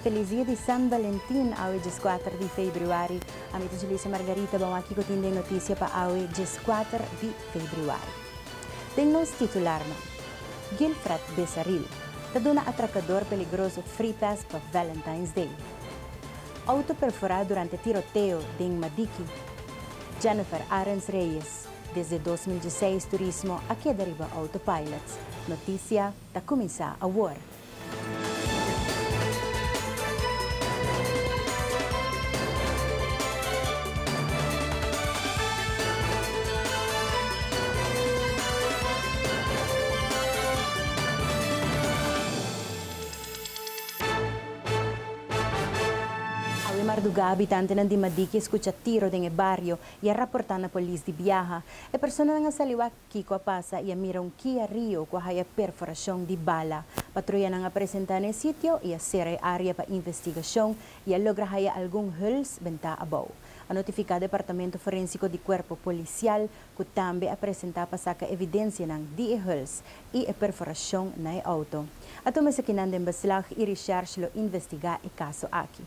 Felis dia di San Valentin awe dieskuater di februari. Ami ta Julissa Margarita bo a wak kiko tin den notisia pa awe dieskuater di februari. Den nos titularnan. Gilfrad Besaril ta duna atrakador peligroso free pass pa Valentine's Day. Auto perfora durante tiroteo den Madiki. Jennifer Arends Reyes desde dos mil diesseis turismo a keda riba autopilot. Notisia. Ta cuminsa awor. Awe marduga habitantenan di Madiki a scucha tiro den e bario y a raporta na polis di biaha. E personanan a sali wak. Kiko a pasa i a mira un Kia Rio ku a haya perforashon di bala. Patruyanan a presentá na e sitio i a sera e área pa investigashon i a logra haya algun huls den ta abou. A notifiká Departamento Forénsiko di Kuerpo Polisial ku tambe a presentá pa saka evidensianan di e huls i e perforashon na e outo. A tuma esakinan den beslag i Richarge lo investigá e kaso aki.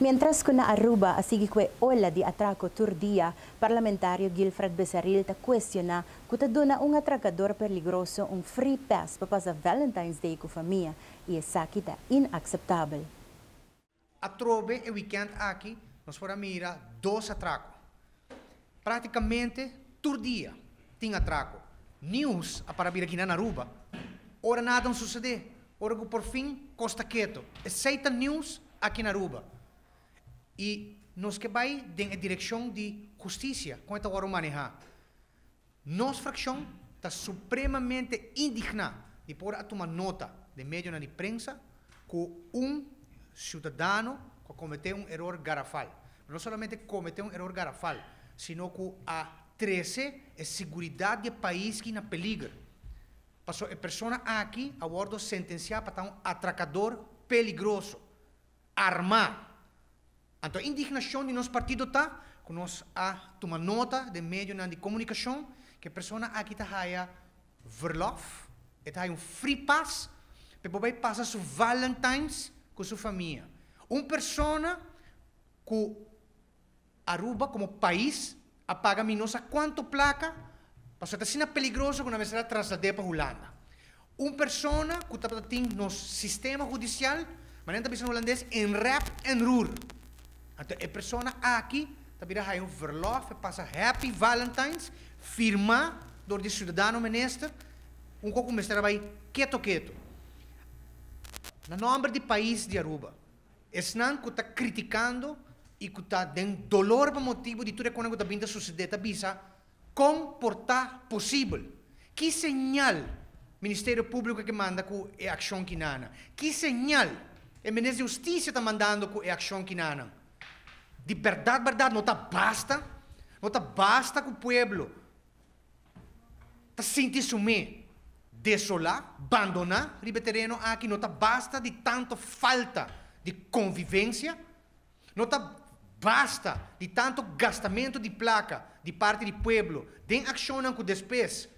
Mientras cu na Aruba a sigui cu e ola di atraco tur dia, Parlamentario Gilfred Becerril ta cuestiona cu ta duna un atracador peligroso un free pass pa pasa Valentine's Day cu famia y esaki ta inaceptabel. Atrobe e wikènt aki nos por a mira dos atrako. Práktikamente tur dia tin atrako. Nius a para bira kina na Aruba ora nada no susedé, ora ku porfin kos ta ketu. Esei ta nius aki na Aruba. I nos ke bai den e direkshon di hustisia kon e ta wòrdu manehá. Nos frakshon ta supremamente indigná di por a tuma nota den medionan di prensa ku un siudadano ku a kometé un eror garafal, pero no solamente kometé un eror garafal, sino ku a trese e siguridat di e pais aki na peliger, paso e persona aki a wòrdu sentensiá pa ta un atrakador peligroso. armá. Anto indignashon di nos partido ta ku nos a tuma nota den medionan di komunikashon ku e persona aki ta haya verlof, e ta haya un free pass pa e por bai pasa su Valentines ku su famia. Un persona ku Aruba komo pais a paga mi no sa kuantu plaka pasobra ta asina peligroso ku nan mester a traslad'é pa Hulanda. Un persona ku tabata tin nos sistema hudisial, manera nan ta bisa na hulandes, in rep en roer. Anto e persona aki ta bira haya un verlof, e pasa Happy Valentines firmá dor di Siudadano Minister, un kos ku mester a bai keto keto. Na nòmber di pais di Aruba. Esnan ku ta kritikando i ku ta den dolor pa motibu di tur e konan ku ta bin ta susedé ta bisa, Kon por ta posibel? Ki señal Ministerio Públiko a ke manda ku e akshon kinanan? Ki señal e Minister di Hustisia ta mandando ku e akshon kinanan? Di bèrdat bèrdat no ta basta, no ta basta ku pueblo. ta sinti sum'é desolá, bandoná riba e tereno aki no ta basta di tantu falta di konvivensia, no ta basta di tantu gastamentu di plaka di parti di pueblo den akshonnan ku despues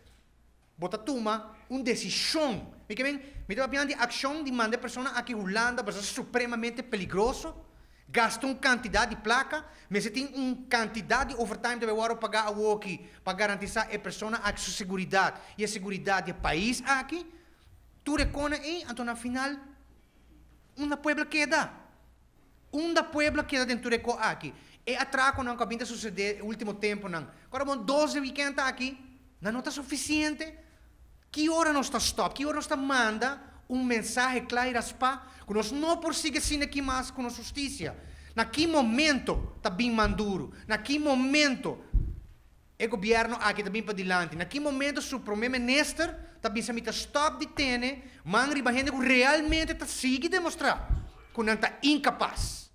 bo ta tuma un desishon. Mi ke men, mi ta papia nan di akshon di manda e persona aki Hulanda, bo sa supremamente peligroso. Gasta un kantidat di plaka, mester tin un kantidat di overtime ta wòrdu pagá awoki pa garantisá e persona aki su seguridat i e seguridat di e pais aki. Tur e kona ei, anto na final unda pueblo keda? Unda pueblo keda den tur e kò aki? E atrakonan ku a bin ta susedé e último tempunan, kòrda bon dos di wikènt aki, Nan no ta sufisiente? Ki ora nos ta stòp? Ki ora nos ta manda un mensahe kla i raspá ku nos no por sigui asina aki mas ku nos hustisia? Na ki momento ta bin manduru? Na ki momento e gobièrnu aki ta bin padilanti? Na ki momento su promé minister ta bisa mi ta stòp di tene man riba hende ku realmente ta sigui demostrá ku nan ta inkapas?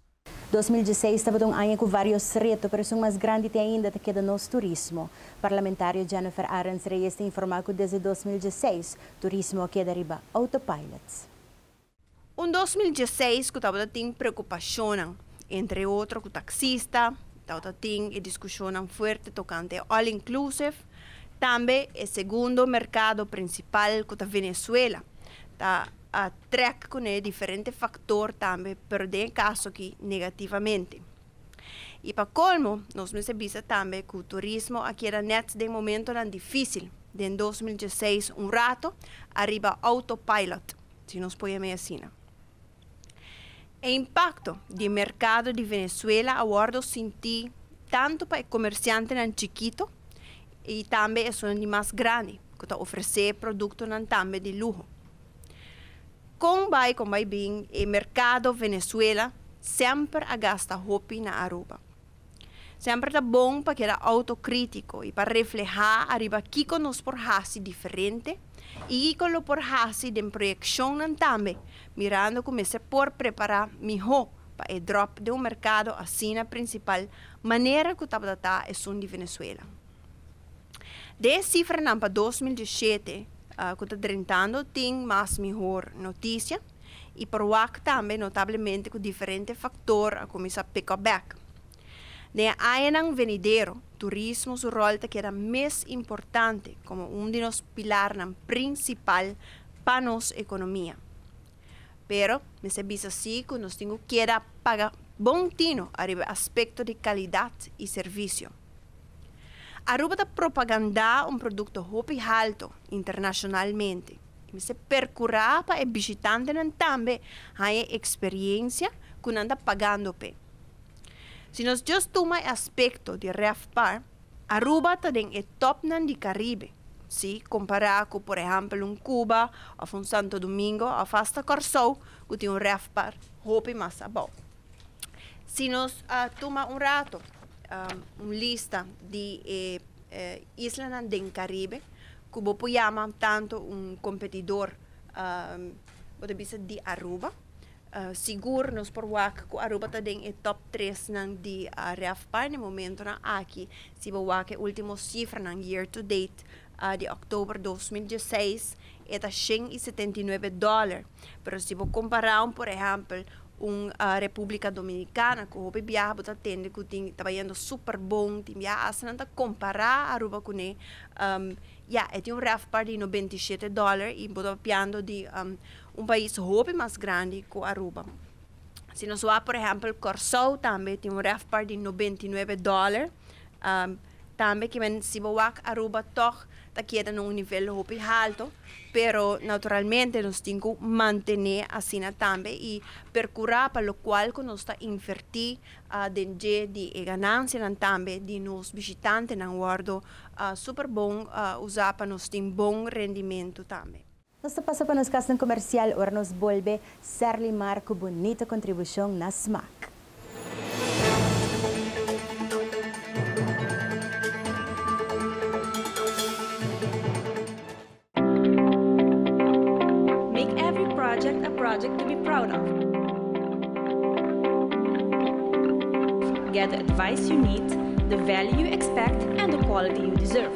Dos mil dieseis tabata un aña ku varios reto, pero esun mas grandi te ainda ta keda nos turismo. Parlamentario Jennifer Arends Reyes ta informá ku desde dos mil dieseis turismo a keda riba autopilot. Un dos mil dieseis ku tabata tin preokupashonnan, entre otro ku taksista, tabata tin e diskushonnan fuerte tokante e all inclusive, tambe e segundo merkado prinsipal ku ta Venezuela ta a trek cu ne diferente factor tambe, pero den e caso aki negativamente. Y pa colmo nos mester bisa tambe cu turismo a keda net den momentonan dificil den dos mil diesseis un rato ariba autopilot, si nos poi amei asina. E impacto di e mercado di Venezuela a wordo sinti tanto pa e comerciantenan chikito y tambe esunandimas grandi cu ta ofrece productonan tambe di luho. Kon bai kon bai bin e merkado Venezuela semper a gasta hopi na Aruba. Semper ta bon pa keda autokrítiko i pa reflehá ariba kiko nos por hasi diferente i kiko lo por hasi den proyekshonnan tambe mirando ku mester por prepará mihó pa e dròp den un merkado asina prinsipal manera ku tabata ta esun di Venezuela. De e sifranan pa dos mil diesiete ku ta drentando tin mas mihor notisia i por wak tambe notablemente ku diferente faktor a kuminsá pick up bèk. Den e añanan venidero turismo su ròl ta keda mes importante komo un di nos pilarnan prinsipal pa nos ekonomia. Pero mester bisa si cu nos tin cu keda paga bon tino ariba e aspecto di calidad y servicio. Aruba ta propaganda un producto hopi halto internacionalmente y mester percura pa e bishitantenan tambe haya e experiencia cu nan ta pagando p'e. Si nos just tuma e aspecto di RevPar, Aruba ta den e tòpnan di Karibe, si kompará ku por ehèmpel un Kuba òf un Santo Domingo òf asta Kòrsou ku tin un rèfpar hopi mas abou. Si nos a tuma un rato un lista di e islanan den Karibe ku bo por yama tantu un kompetidor bo ta bisa di Aruba Sigur nos por wak ku Aruba ta den e top tresnan di REFPA den momentunan aki. Si bo wak e último sifranan year to date di òktober dos mil dieseis e ta shen i setenta i nuebe dòler. Pero si bo kompará un por ehèmpel un Repúblika Dominikana ku hopi biaha bo ta tende ku tin ta bayendo super bon, tin biaha asta nan ta kompará Aruba kuné ya e tin un REFPA di nobenta i shete dòler i bo ta papiando di Un pais hopi mas grandi ku Aruba. Si nos wak por ehèmpel Kòrsou tambe tin un rèfpar di nobenta i nuebe dòler. Tambe kimen si bo wak Aruba tòg ta keda na un nivel hopi haltu pero naturalmente nos tin ku mantené asina tambe i perkurá pa lokual ku nos ta invertí den dje di e ganansianan tambe di nos bishitantenan wòrdu super bon usá pa nos tin bon rendimentu tambe. Nos ta pasa pa nos kasnan komersial ora nos bolbe ser limar ku bunita kontribushon na smak. Make every project a project to be proud of. Get the advice you need, the value you expect and the quality you deserve.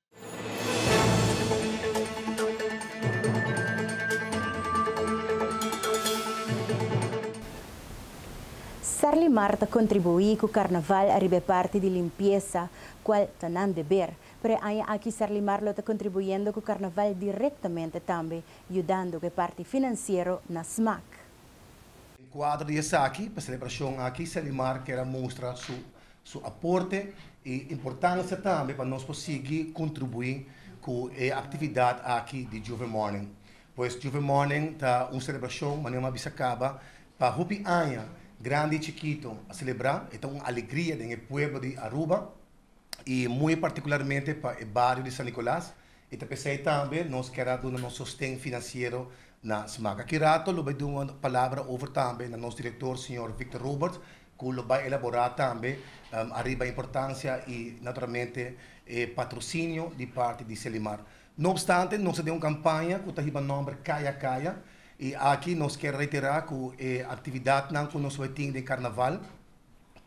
Serlimar ta kontribuí ku karnaval riba e parti di limpiesa, kual ta nan deber. Pero e aña aki Serlimar lo ta kontribuyendo ku karnaval direktamente tambe, yudando ku e parti finansiero na smak. Den kuadro di esaki, pa selebrashon aki Serlimar kere a mustra su Su aporte i importansia tambe pa nos por sigui kontribuí ku e aktividat aki di Juve Morning. Pues Juve Morning ta un selebrashon, manera mi a bisa kaba, pa hopi aña, grandi i chikito a selebrá. E ta un alegria den e pueblo di Aruba i muy partikularmente pa e bario di San Nicolas. I ta p'esei tambe nos kier a duna nos sosten finansiero na smak. Aki rato lo bai duna un palabra over tambe na nos direktor, señor Victor Roberts, cu lo bay elabora tambe ariba e importancia y naturalmente e patrocinio di parti di Selimar. No obstante nos ta den un campaña cu ta hiba nomber Caya Caya y aki nos kier reitera cu e actividadnan cu nos a bay tin den Carnaval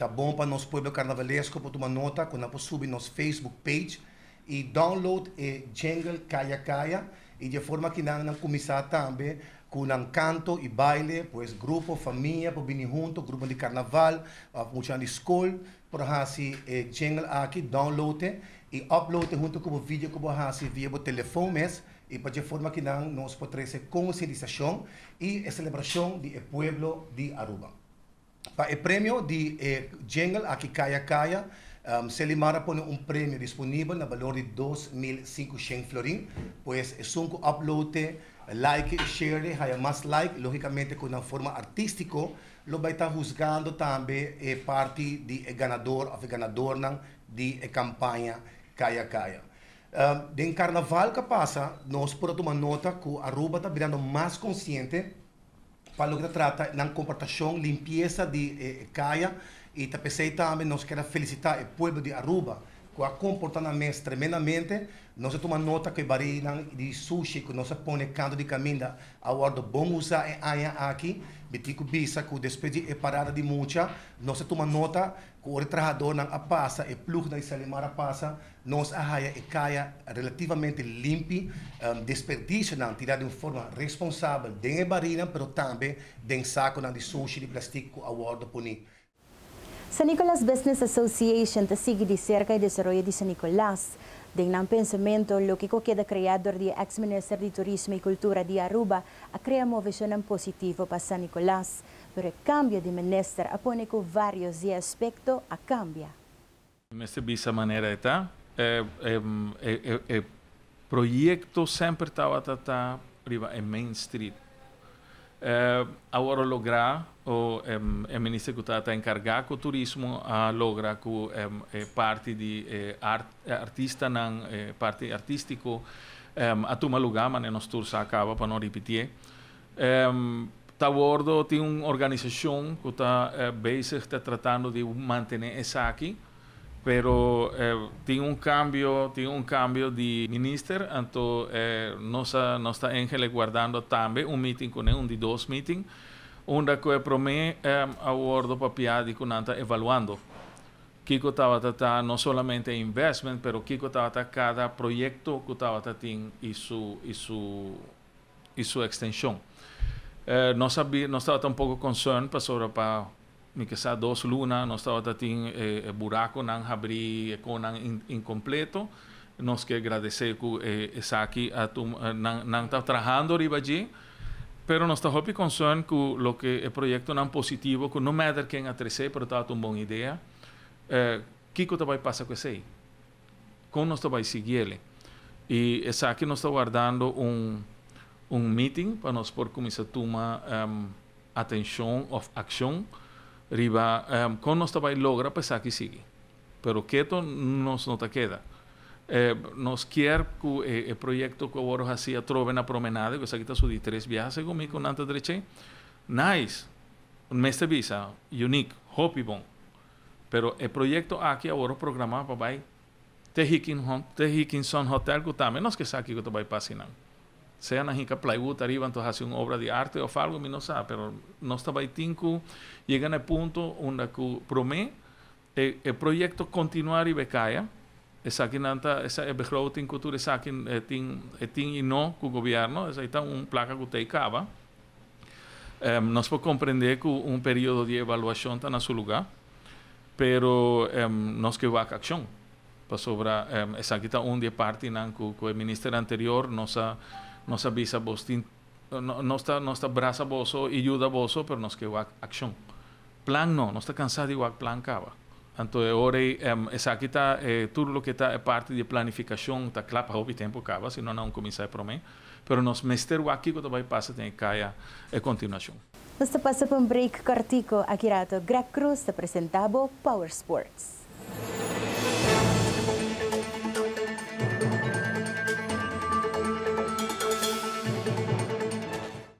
ta bon pa nos pueblo carnavalesco por tuma nota cu nan por subi nos Facebook page, y download e jingle Kaya Kaya y dje forma aki nan nan cuminsa tambe cu nan canto y baile, pues grupo, famia por bini hunto, gruponan di carnaval of muchanan di school por haci e jingle aki, download e y upload e hunto cu bo video cu bo a haci via bo telefoon mes y pa dje forma aki nan nos por trece concientisacion y e celebracion di e pueblo di Aruba. Pa e premio di e jingle aki Kaya Kaya, Selimar a pone un premio disponibel na balor di dos mil sinku shen florin. Pues esun cu upload'e, like'e y share'e haya mas like, logicamente cu nan forma artistico lo bay ta huzgando tambe e parti di e ganador of e ganadornan di e campaña Kaya Kaya. Den Carnaval cu a pasa nos por a tuma nota cu Aruba ta birando mas consciente, pa loke ta trata nan komportashon, limpiesa di e kaya i ta p'esei tambe nos ker a felisitá e pueblo di Aruba ku a komportá nan mes tremendamente. Nos a tuma nota ku e barinan di sushi ku nos a pone kantu di kaminda a wòrdu bon usá e aña aki. Mitiku bisa ku despues di e parada di mucha nos a tuma nota. Ku ora e trahadónan a pasa, e plugnan i salimar a pasa, nos a haya e kaya relativamente limpi, desperdishonan tirá den un forma responsabel den e barinan pero tambe den sakunan di sushi di plastik ku a wòrdu puní. San Nicolas Business Association ta sigui di serka e desaroyo di San Nicolas. Den nan pensamentu, loke ku a keda kreá dor di e eks Minister di Turismo i Kultura di Aruba a krea moveshonnan positivo pa San Nicolas. Pero e kambio di minister a pone ku varios di e aspekto a kambia. Mi mester bisa manera e ta. E proyekto semper tabata ta riba e main street. Awor a logra, o e minister ku tabata enkarga ku turismo a logra ku e parti di e artistanan, e parti artistiko a tuma luga, mane nos tur sa kaba pa no ripitié. Ta wordo tin un organisashon ku ta bezig ta tratando di mantené esaki, pero tin un kambio, tin un kambio di minister, anto nos a nos ta engele guardando tambe un meeting kuné, un di dos meeting, unda ku e promé a wordo papia di ku nan ta evaluando kiko tabata ta no solamente e investment, pero kiko tabata kada proyekto ku tabata tin i su i su. y su extension. Nos a bi, nos tabata un poco concern pasobra pa mi ke sa dos luna nos tabata tin e e buraconan habri, e conan incompleto. Nos ke gradece cu e esaki a tum nan nan ta trahando riba dje, pero nos ta hopi concern cu loke e proyectonan positivo cu no matter ken a trece pero tabata un bon idea, kico ta bay pasa cu esey? Kon nos ta bai sigui el? I esaki nos ta wardando un un miting pa nos por kuminsá tuma atenshon òf akshon riba kon nos ta bai logra pa esaki sigui. Pero keto nos no ta keda. Nos kier ku e proyekto ku a wòrdu hasi atrobe na Promenade, ku esaki ta su di tres biaha segun mi ku nan ta drech'ei, nice, mester bisa, uniek, hopi bon. pero e proyekto aki a wòrdu programá pa bai te Hickinson Hotel ku tambe nos ke sa kiko ta bai pasa einan. Sea nan hika plywood ariba anto hasi un obra di arte òf algu mi no sa, pero nos ta bai tin ku yega na e punto unda ku promé e proyekto kontinuá riba e kaya, esaki nan ta e begroting ku tur esaki e tin e tin i no ku gobièrnu, esei ta un plaka ku ta ei kaba. Nos por comprende cu un periodo di evaluacion ta na su lugar, pero nos ke wak accion, pasobra esaki ta un di e partinan cu cu e minister anterior nos a nos a bisa boso tin nos ta nos ta brasa boso y yuda boso, pero nos ke wak accion. Plan no, nos ta cansá di wak plan caba. Anto e ora ei, em, esaki ta e, tur loke ta e parti di e planificacion ta cla pa hopi tempo caba, si no nan cuminsá e prome. Pero nos mester wak kico ta bay pasa den e caya e continuacion. Nos ta pasa pa un break cortico aki rato. Greg Cruz ta presenta bo Power Sports.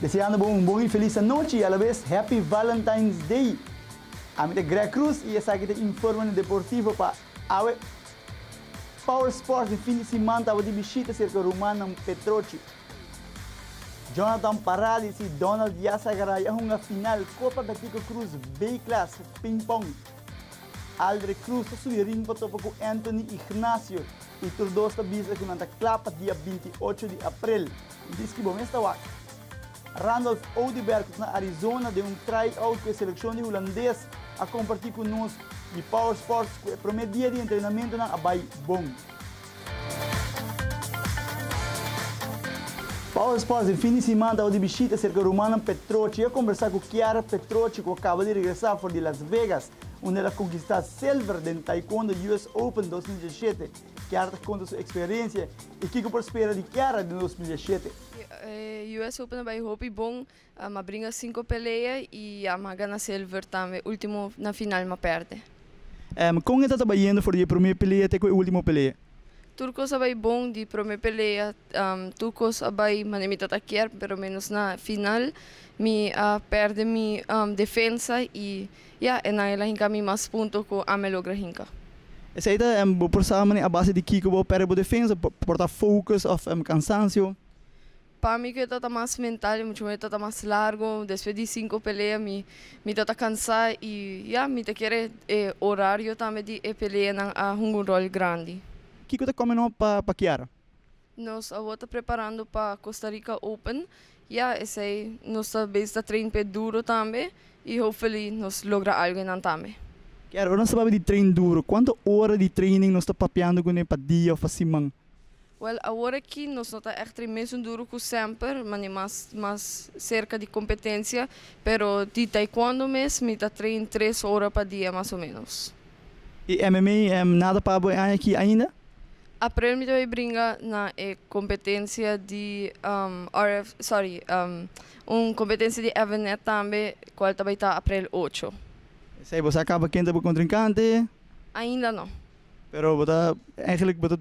Deseando bo un bon y feliz anochi y a la vez Happy Valentine's Day. Ami ta Greg Cruz y esaki ta Informe Deportivo pa awe. Power Sports e fin di siman tabata di bishita cerca rumannan Petrochi. Jonathan Paralis y Donald Diaz-Agaray a hunga final Copa Betico Cruz B-Class Ping Pong. Aldre Cruz ta subi ring pa topa cu Anthony Ignacio y tur dos ta bisa cu nan ta cla pa dia binti ocho di april. Dischi bo mes ta wak. Randolph Oduber cu ta na Arizona den un try-out cu e seleccion di Hulandes a comparti cu nos di Power Sports cu e prome dia di entrenamentonan a bay bon. Paul Espoz den fin di siman taba di bishita serka Rumana Petrochi i a kombersá ku Kiara Petrochi ku a kaba di regresá for di Las Vegas unda el a konkistá silver den Taekwondo US Open dos mil diesishete. Kiara ta konta su eksperensia i kiko por spera di Kiara den dos mil diesishete. US Open a bai hopi bon. Am a bringa cinco pelea y am a gana silver tambe, ultimo na final ma perde. Am con e tataba yendo for di e prome pelea te cu e ultimo pelea? Tur cos a bay bon, di prome pelea am tur cos a bay manera mi tata kier pero menos na final mi a perde mi am defensa y ya e nan el a hinca mi mas punto cu am e logra hinca. Esey ta am bo por sa manera a base di kico bo perde bo defensa, por ta focus of am cansancio? Pa mi cu e tata mas mental y mucho mer e tata mas largo despues di cinco pelea mi mi tata cansa y ya mi ta kere e horario tambe di e peleanan a hunga un rol grandi. Kico ta come no pa pa Kiara? Nos awor ta preparando pa Costa Rica Open, ya esey nos ta bes ta train p'e duro tambe y hopefully nos logra algo e nan tambe. Kiara, ora nos ta papia di train duro, cuanto ora di training nos ta papiando cu ne pa dia of pa siman? Well awor aki nos no ta echter mesun duru cu semper mandi mas mas cerca di competencia pero di taekwondo mes mi ta train tres ora pa dia mas o menos. Y mma nada pabo e aña aki ainda? Aprel mi ta bay bringa na e competencia di rf sorry un competencia di evenet tambe cual ta bay ta aprel ocho. Esey bo sa caba ken ta bo contrincante? Ainda no. Pero bo ta eigenlijk bo ta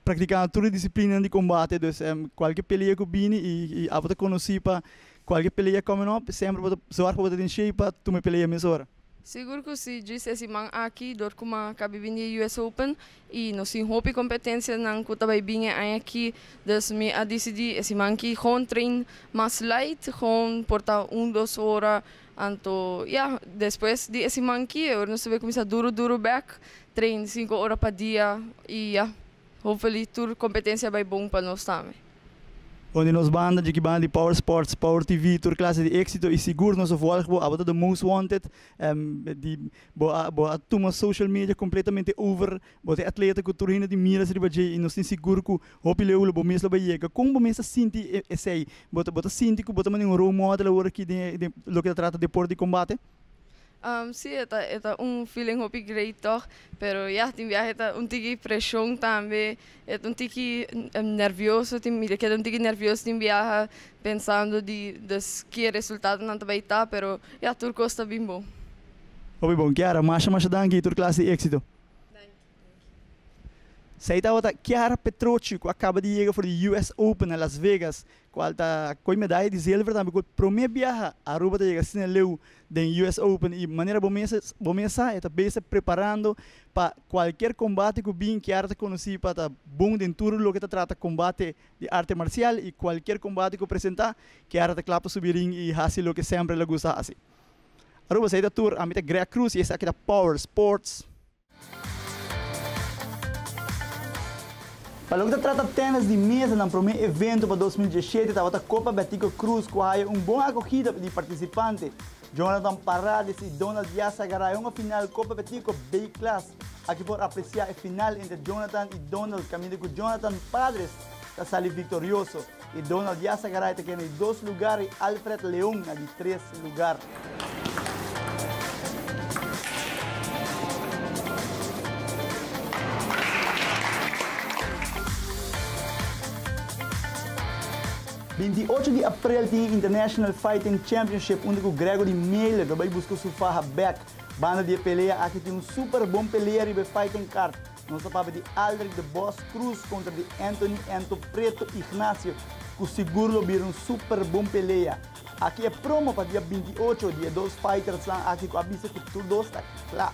praktiká tur e disiplinan di kombate dus kualke pelea ku bini i abo ta konosí pa kualke pelea kòmen op semper bo ta sòrg bo ta den shei pa tuma e pelea mes ora. Sigur ku si, djis e siman aki dor kuma ka bai bin di e US Open i nos tin hopi kompetensianan ku ta bai bin e aña aki dus mi a disidí e siman aki gewoon train mas light gewoon por ta un dos ora Anto ya, despues di e siman ki e ordenashon a kuminsá duru duru bèk, treinta i sinku ora pa dia, i ya, hopefully tur kompetensia a bai bon pa nos tambe. Bon di nos banda, Djikibana di Power Sports, Power TV, tur klase di éksito i sigur nos a vòlg bo, abo ta The Most Wanted, di bo a bo a tuma social media kompletamente over Bo ta e atleta ku tur hende tin miras riba dje i nos tin sigur ku hopi leu bo mes lo bai yega. Kon bo mes ta sinti esei? Bo ta bo ta sinti ku bo ta manera un role model awor aki den e den loke ta trata deport di kombate? Sí, e ta e ta un feeling hopi great tòg. Pero ya, tin biaha e ta un tiki preshon tambe. E ta un tiki nervioso tin mi ta keda un tiki nervioso tin biaha pensando di des ki e resultadonan ta bai ta, pero ya tur kos ta bin bon. Hopi bon Kiara, masha masha danki i tur klas di éksito. Sai tabata Chiara Petrucci cu a caba di yega for di US Open na Las Vegas cual ta coy medaya di zilver tambe cu e prome biaha Aruba ta yega asina na leu den US Open y manera bo mes bo mes sa e ta bes ta preparando pa cualkier combate cu bin Chiara ta conoci pa ta bon den tur loke ta trata combate di arte marcial y cualkier combate cu presenta Chiara ta cla pa subi ring y haci loke semper el a gusta haci. Aruba esei ta tur, ami ta Greg Cruz y esaki ta Power Sports. Pa loke ta trata tenis di mesa nan prome evento pa dos mil diesshete tabata Copa Betico Cruz cu a haya un bon acogida di participante. Jonathan Parades y Donald Diaz a gara un final Copa Betico B-Class. Aki por aprecia e final entre Jonathan y Donald caminda cu Jonathan Padres ta sali victorioso. y Donald Villasegaray ta keda di dos lugar y Alfred Leon na di tres lugar. Binti ocho di aprel tin e International Fighting Championship unda cu Gregory Meiler ta bay busca su faha Beck. Banda di e pelea aki tin un super bon pelea riba e fighting card. Nos ta papia di Aldrick de Bos Cruz kontra di Anthony Anto Preto Ignacio ku sigur lo bira un super bon pelea. Aki e promo pa dia binti i ocho di e dos faitersnan aki ku a bisa ku tur dos ta kla.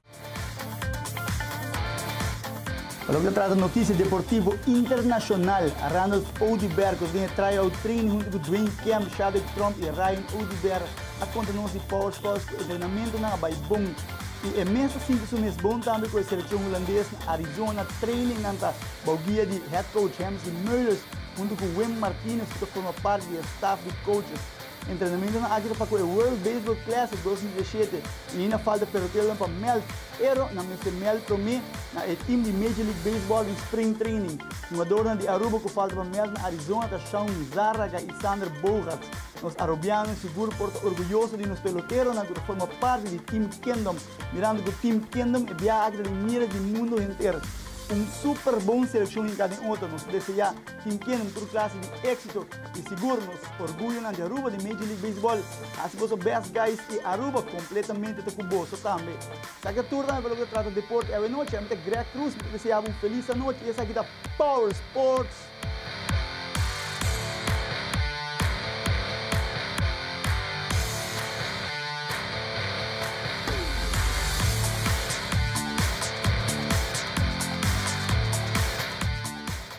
Pa loke ta trata notisia deportivo internashonal, Randolph Oduber ku ta den e tryout training huntu ku Dwayne Kemp, Shadrick Tromp i Ryan Oduber a konta nos di Powersports ku e entrenamentunan a bai bon i e mes ta sinti su mes bon tambe ku e selekshon hulandes na Arizona. Trainingnan ta bou guia di head coach Hemsley Meulers huntu ku Wim Martinez ku ta forma parti di e staf di coaches. Entrenamentonan aki ta pa ku e World Baseball Classic dos mil diesshete i ahinda falta peloteronan pa mèld, pero nan mester mèld promé na e tim di Major League Baseball den spring training. Hugadornan di Aruba ku falta pa mèld na Arizona ta Shaun Zarraga i Xander Bogaerts. Nos arubiano sigur por ta orguyoso di nos peloteronan ku ta forma parti di Team Kingdom, mirando ku Team Kingdom e biaha aki ta den mira di mundu henter. Un super bon selekshon hinká den oto. Nos ta deseá. Tin kende na tur klase di éksito i sigur nos orguyonan di Aruba den Major League Baseball a hasi boso bèst guys i Aruba kompletamente ta ku boso tambe. Esaki ta tur tambe pa loke ta trata deporte awenochi. Mi ta Greg Cruz, mi ta desea bo un felis anochi i esaki ta Power Sports!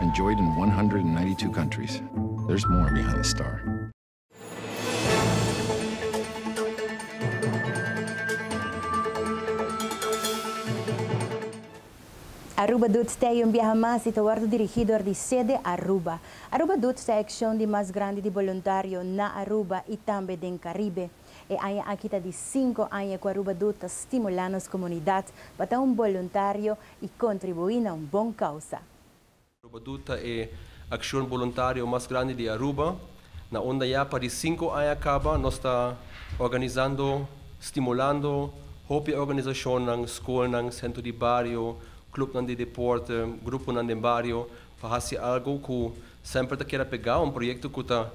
Enjoyed in 192 countries. There's more behind the star. Aruba Dudes Te Hay Un Biaha Mas y ta wordo dirigi dor di Sede Aruba. Aruba Dudes ta e accion di mas grandi di boluntario na Aruba y tambe den Caribe. E aña aki ta di cinco aña cu Aruba Dude ta stimula nos comunidad pa ta un boluntario i kontribuí na un bon kousa. Arubadú ta e akshon boluntario mas grandi di Aruba. Na unda ya pa di sinku aña kaba nos ta organisando, stimulando hopi organisashonnan, skolnan, sentro di bario, klupnan di deporte, gruponan den bario pa hasi algu ku semper ta keda pegá, un proyekto ku ta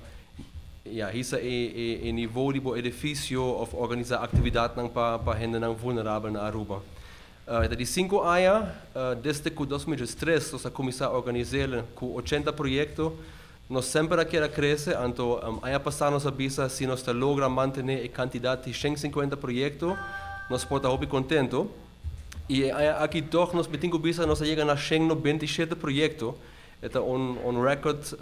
ya hisa e nivou di bo edifisio òf organisá aktividatnan pa hendenan vulnerabel na Aruba. E ta di sinku aña desde ku dos mil diestres nos a kuminsá organisél ku ochenta proyekto. Nos semper a kier a krese, anto aña pasá nos a bisa si nos ta logra mantené e kantidat di shen sinkuenta proyekto nos por ta hopi kontento. I e aña aki tòg nos mitin ku bisa nos a yega na shen nobenta i shete proyekto. E ta un rèkòrt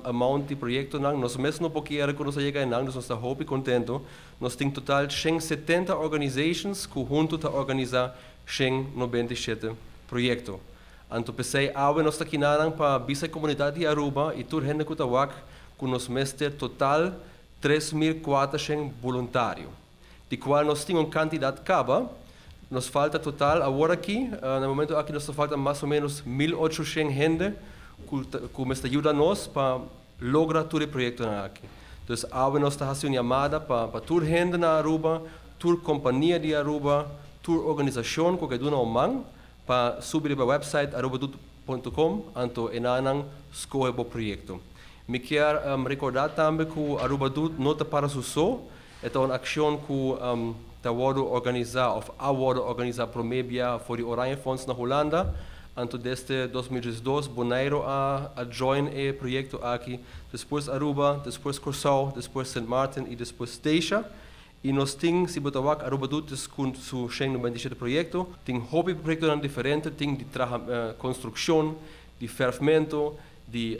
amount di proyektonan. Nos mes no por kier ku nos a yega enan, dus nos ta hopi kontento. Nos tin total shen setenta organizations cu hunto ta organiza shen nobenta i shete proyecto. Anto pesey awe nos ta kinanan pa bisa e comunidad di Aruba i tur hende cu ta wak cu nos mester total tres mil cuatashen buluntario, di cual nos tin un cantidad caba. Nos falta total aworaki, na e momento aki nos ta falta mas o menos mil ochoshen hende cu mester yuda nos pa logra tur e proyektonan aki. Dus awe nos ta hasi un yamada pa pa tur hende na Aruba, tur kompania di Aruba, tur organisashon ku a ke duna un man pa subi riba e wèpsait arubadoet.com anto enannan skohe bo proyekto. Mi kier rekordá tambe ku Aruba Doet no ta para su so, E ta un akshon ku ta wòrdu organisá òf a wòrdu organisá promé bia for di Oranjefonds na Hulanda. Anto desde dos mil diesdos Bonaire a a join e proyekto aki, despues Aruba, despues Kòrsou, despues Sint Maarten i despues Statia. I nos tin, si bo ta wak Aruba Doet dus kun su Sheng noventa i shete proyekto, tin hopi proyektonan diferente, tin di traha konstrukshon, di fèrfmento, di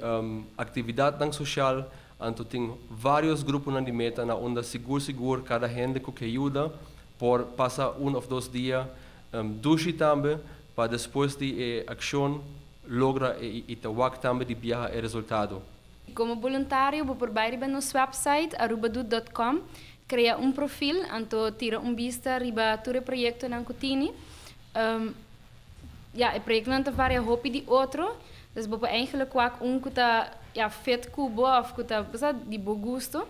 aktividatnan soshal, Anto tin varios gruponan di meta na unda sigur sigur kada hende ku ke yuda por pasa un òf dos dia dushi tambe pa despues di e akshon logra e i ta wak tambe di biaha e resultado. Komo boluntario bo por bai riba nos wèpsait Arubadoet dòt kòm, krea un profil, anto tira un bista riba tur e proyektonan ku tini. Ya, e proyektonan ta varia hopi di otro. Des bo por eindelijk wak un ku ta, ya, fit ku bo òf ku ta, bo sa, di bo gusto.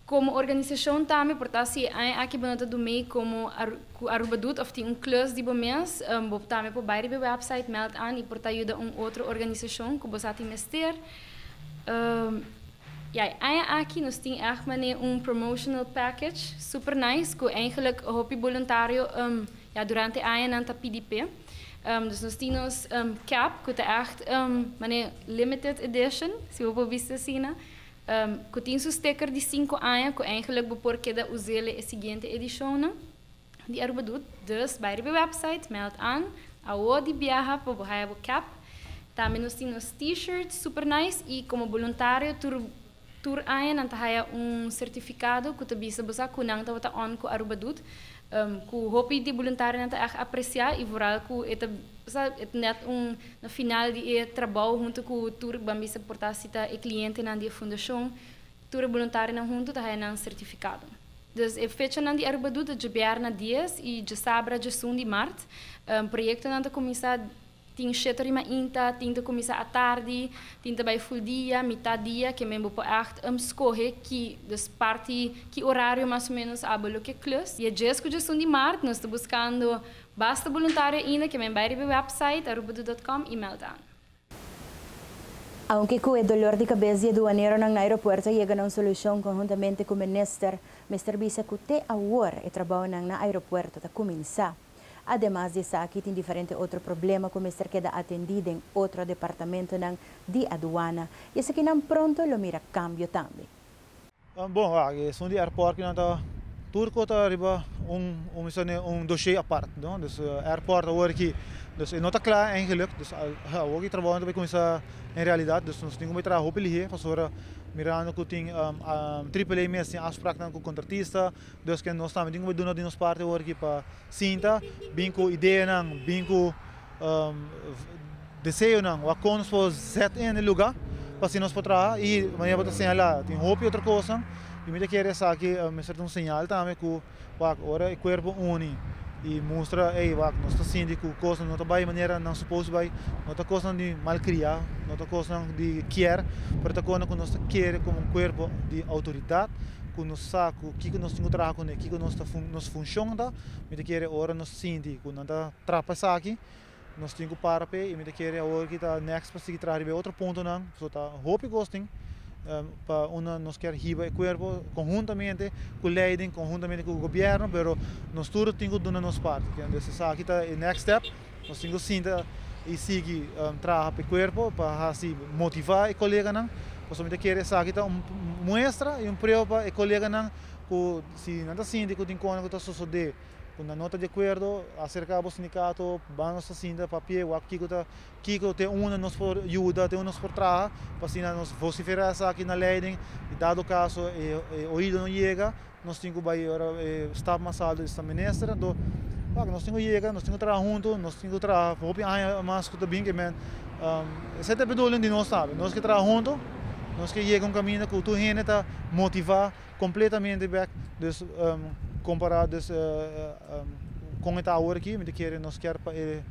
Komo organisashon tambe por ta si e aña aki bo no ta dun mee komo ku Aruba dut òf tin un klus di bo mes, bo tambe por bai riba e wèpsait, mèld aan i por ta yuda un otro organisashon ku bo sa tin mester. I aña aki nos tin èg man'é un promotional package super nice ku eingelik hopi boluntario ya durante aña nan ta pidi p'e. Dus nos tin nos kèp ku ta èg man'é limited edition, si bo por bisti asina, ku tin su sticker di sinku aña ku eingelik bo por keda us'el e siguiente edishonnan. di Arubadut, dus bai riba e website, meld aan, awo di biaha pa bo haya bo kep, tambe nos tin nos T-shirt super nice y como boluntario tur tur aña nan ta haya un certificado cu ta bisa bo sa cu nan tabata on cu Arubadut, cu hopi di boluntario nan ta echt aprecia y vooral cu e ta sa e ta net un na final di e trabao hunto cu tur ban bisa porta asita e clientenan di e fundacion. Tur e boluntarionan huntu ta haya nan sertifikado. Dus e fechanan di Arubadu ta djobierna dies i djosabra djesun di mart. Proyektonan ta kuminsá tin sheto rima inta, tin ta kuminsá atardi, tin ta bai ful dia, mitat dia, ke men bo por ègt skohe ki, dus parti ki orario mas o ménos abo loke klus. Dia djes ku djesun di mart nos ta buskando basta boluntario ainda, ke men bai riba e wèpsait arubadu dòt kòm i mèld aan. Aunke cu e dolor di cabes di e duaneronan na aeropuerto yega na un solucion conhuntamente cu minister, mester bisa cu te awor e trabaonan na aeropuerto ta cuminsa. Ademas di esaki tin diferente otro problema cu mester keda atendi den otro departamentonan di aduana y esakinan pronto lo mira cambio tambe. Bon aki esun di airport ki nan ta Turco ta riba un un doshee apart no dus airport awor aki dus e no ta kla eigenlik dus awor ki trabounan ta bai kuminsá en realidat dus nos tin ku bai traha hopi lihé pasobra mirando ku tin triple a mes tin afspraknan ku kontratista Dos ke nos tambe tin ku por duna di nos parti awor aki pa sinta bin ku ideanan, bin ku deseonan wak kon nos por zet en e lugá pa así nos por traha i manera bo ta señalá tin hopi otro kosnan i mi ta kere esaki mester ta un señal tambe ku wak ora e kuerpo uni i mustra ey wak nos ta sinti ku kosnan no ta bai manera nan supos bai no ta kosnan di malkriá no ta kosnan di kier pero ta kosnan ku nos ta kere komo un kuerpo di outoridat. ku nos sa ku kiko nos tin ku traha kuné kiko nos ta nos funshon ta mi ta kere ora nos sinti ku nan ta trapa esaki nos tin ku para p'e i mi ta kere awor ki ta next pa sigui traha riba e otro puntonan pasobra ta hopi kos tin pa unda nos ker hiba e kuerpo konhuntamente ku leiden konhuntamente ku gobierno pero nos tur tin ku duna nos parti esaki ta e next step. Nos tin cu sinta y sigui traha pa e cuerpo pa haci motiva e coleganan. Pasobra mi ta kere esaki ta un muestra y un prueba pa e coleganan cu si nan ta sinti cu tin contra cu ta sosode cu nan no ta di acuerdo acerca bo sindicato banda nos ta sinta papia e wak kico ta kico te unda nos por yuda te unda nos por traha pa asina nos vocifera esaki na ley den y dado caso e oidonan yega. nos tin ku bai ora staf mas alto di staf minister anto wak nos tin ku yega nos tin ku traha huntu nos tin ku traha hopi aña mas ku ta bin kimen esa ta e bedoeling di nos tambe nos ke traha huntu nos ke yega un kaminda ku tur hende ta motiva kompletamente bek dus kompara dus kon e ta awor aki mi ta kere nos ker pa e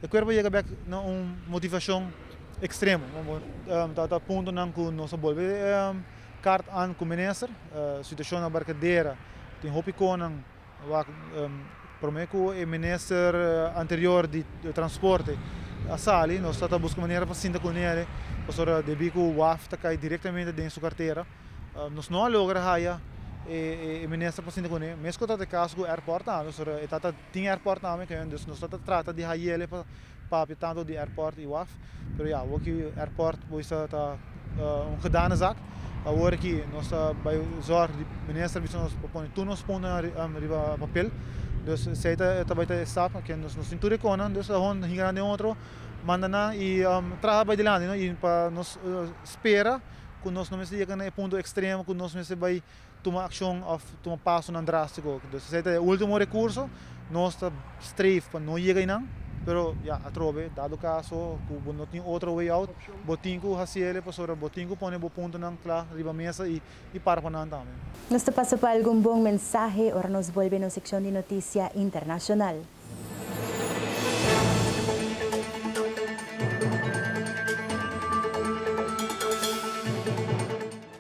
kuerpo yega bek na un motivashon ekstremo ta puntonan ku nos ta bolbe. Kart an ku minister, situashon na Barkadera tin hopi konan wak promé ku e minister anterior di transporte a sali nos ta ta buska manera pa sinta ku nele pasobra debí ku waf ta kai direktamente den su kartera nos no a logra haya e minister pa sinta kuné mes ku ta ta e kaso ku airport anda pasobra e ta ta Tin airport na Ameca yon dus nos ta ta trata di hayele pa papia tanto di airport y waf pero ya awor ki airport bo bisa ta un gedane zak awor aki nos ta bay zorg di minister bisa nos pa pone tur nos punto nan riba papel dus esey ta e ta bay ta e stap ken nos nos tin tur e conan dus awor nos hinga nan den otro manda nan y traha bay dilanti no y pa nos spera cu nos no mester yeka na e punto extremo cu nos mester bay tuma akshon òf tuma pasonan drástiko. Entonces esei ta e último rekurso, nos ta streef pa no yega einan, pero ya atrobe, dado kaso ku bo no tin otro way out, bo tin ku hasi ele pasobra bo tin ku pone bo puntonan kla riba mesa i i para pa nan tambe. Nos ta pasa pa algun bon mensahe ora nos bolbe nos sekshon di notisia internashonal.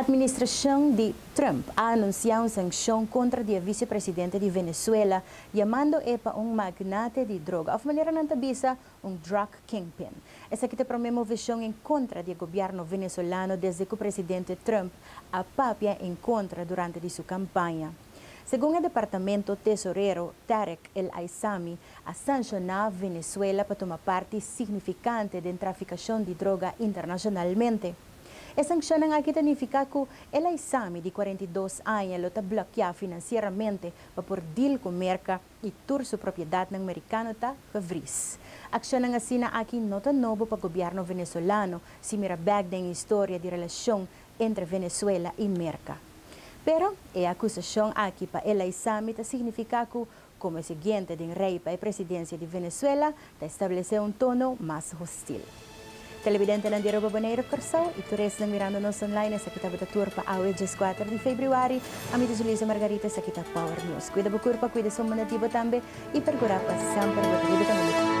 Administrashon di Trump a anunsiá un sankshon kontra di e visepresidente di Venezuela, yamandoe pa un magnate di droga, òf manera nan ta bisa, un drug kingpin. Esaki ta prome moveshon en kontra di e gobièrnu venezolano desde ku presidente Trump a papia en kontra durante di su kampaña. Segun e departamento tesorero Tarek El Aissami a sanshoná Venezuela pa tuma parti signifikante den trafikashon di droga internashonalmente. E sankshonnan aki ta nifiká ku El Aissami di kuarenta i dos aña lo ta blokeá finansieramente pa por deal ku Merka. i tur su propiedatnan merikano ta gevris. Akshonnan asina aki no ta nobo pa gobièrnu venezolano, si mira bèk den historia di relashon entre Venezuela i Merka. Pero, e akusashon aki pa el eisami ta signifiká ku, komo e siguiente den rei pa e presidensia di Venezuela, Ta establesé un tono mas hostil. Televidentenan di Aruba Boneiru Kòrsou i turistnan mirando nos online esaki tabata tur pa awe djes kuater di februari. Ami ta Julisa Margarita esaki ta Power News. Kuida bo kurpa, kuida su munda di bo tambe i perkura pa semper bo ta riba den un ekipo.